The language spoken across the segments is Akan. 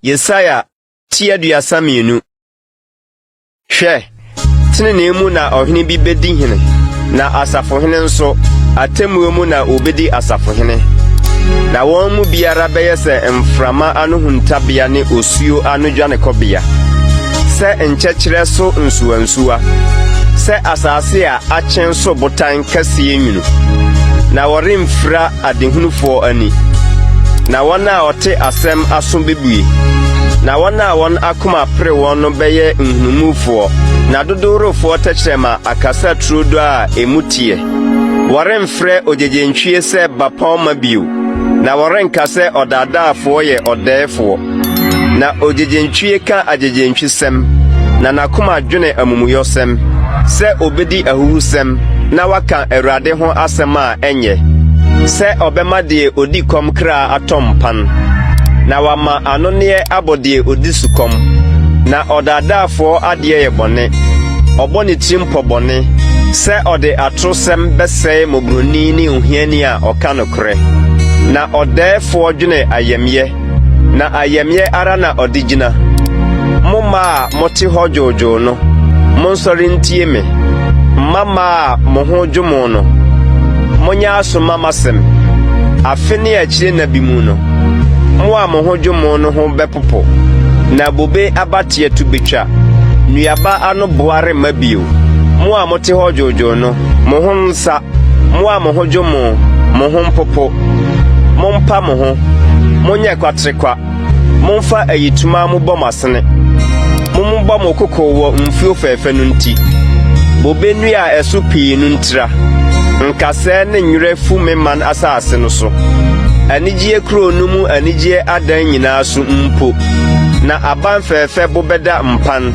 Yesaia ti aduasa mmienu. Hwɛ, tenenee mu na ɔhene bi bedi hene, na asafohene nso, atemmuo mu na obedi asafohene. Na wɔn mu biara bɛyɛ sɛ mframa ano huntabea ne osuo ano dwanekɔbea, sɛ nkyɛkyerɛ so nsuwansuwa, sɛ asase a akyen so botan kɛseɛ nwunu, na wɔremfira adehunufoɔ ani. Na wɔn a wɔte asɛm aso bɛbue, na wɔn a wɔn akoma apere wɔn no bɛyɛ nhunumufoɔ, na dodoworofoɔ tɛkyerɛma akasa turodoo a emu teɛ. Wɔremfrɛ ogyegyentwie sɛ bapɔmma bio, na wɔrenka sɛ ɔdaadaafoɔ yɛ ɔdɛɛfoɔ. Na ogyegyentwie ka agyegyentwesɛm, na n'akoma dwene amumuyɔsɛm, sɛ obedi ahuhusɛm na waka Awurade ho asɛm a ɛnyɛ, sɛ ɔbɛma deɛ ɔdi kɔm kra atɔ mpan, na wama anonneɛ abɔ deɛ ɔdi sukɔm. Na ɔdaadaafoɔ adeɛ yɛ bɔne, ɔbɔ ne tirim pɔ bɔne, sɛ ɔde atorosɛm bɛsɛe mmɔborɔni ne ohiani a ɔka nokorɛ, na ɔdɛɛfoɔ dwene ayamyɛ. na ayamye ara na ɔde gyina. Mo mma a mote hɔ dwoodwoo no, monsɔre ntie me. Mma mma a mo ho dwo mo no, monyɛ aso mma m'asɛm. Afe ne akyire nna bi mu no, mo a mo ho dwo mo no ho bɛpopo, na bobe abateɛ to bɛtwa. Nnuaba ano boa remma bio. Mo a mote hɔ dwoodwoo no, mo ho nsa, mo a mo ho dwo mo, mo ho mpopo. Mompa mo ho, monyɛ kwaterekwa, momfa ayitoma mobɔ mo asene. Mommobɔ mo koko wɔ mfuo fɛɛfɛ no nti, bobe nnua a ɛso pii no ntira. Nkasɛɛ ne nwerɛ fu me man asase no so, anigyeɛ kuro no mu anigyeɛ adan nyinaa so mpo. Na aban fɛɛfɛ bo bɛda mpan,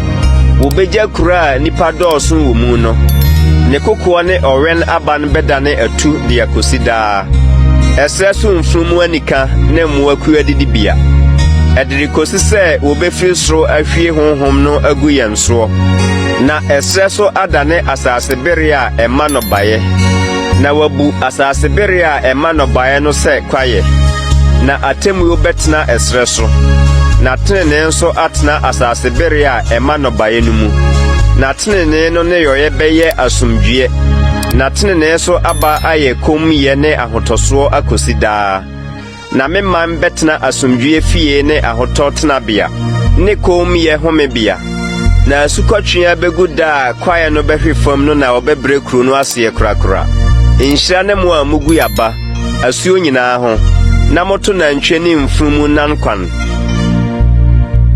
wɔbɛgya kuro a nnipa dɔɔso wɔ mu no. Ne kokoɔ ne ɔwɛn-aban bɛdane atu de akɔsi daa. nyinaa, ɛserɛ so mfunumu anika ne mmoakuw adidibea, ɛde rekosi sɛ wobefiri soro ahwie honhom no agu yɛn soɔ, na ɛserɛ so adane asase bereɛ a ɛma nnɔbaeɛ, na wabu asase bereɛ a ɛma nnɔbaeɛ no sɛ kwaeɛ, na atemmuo bɛtena ɛserɛ so, na tenenee nso atena asase bereɛ a ɛma nnɔbaeɛ no mu, na tenenee no nneyɔeɛ bɛyɛ asomdwoeɛ. Na tenenee so aba ayɛ kommyɛ ne ahotɔsoɔ akosi daa. Na me man bɛtena asomdwoeɛ fie ne ahotɔ tenabea, ne kommyɛ homebea. Na asukɔtweaa bɛgu da a kwaeɛ no bɛhwe fam no na wɔbɛbrɛ kuro no aseɛ korakora. Nhyira ne mo a mogu aba, asuo nyinaa ho, na moto nantwie ne mfunumu nan kwan.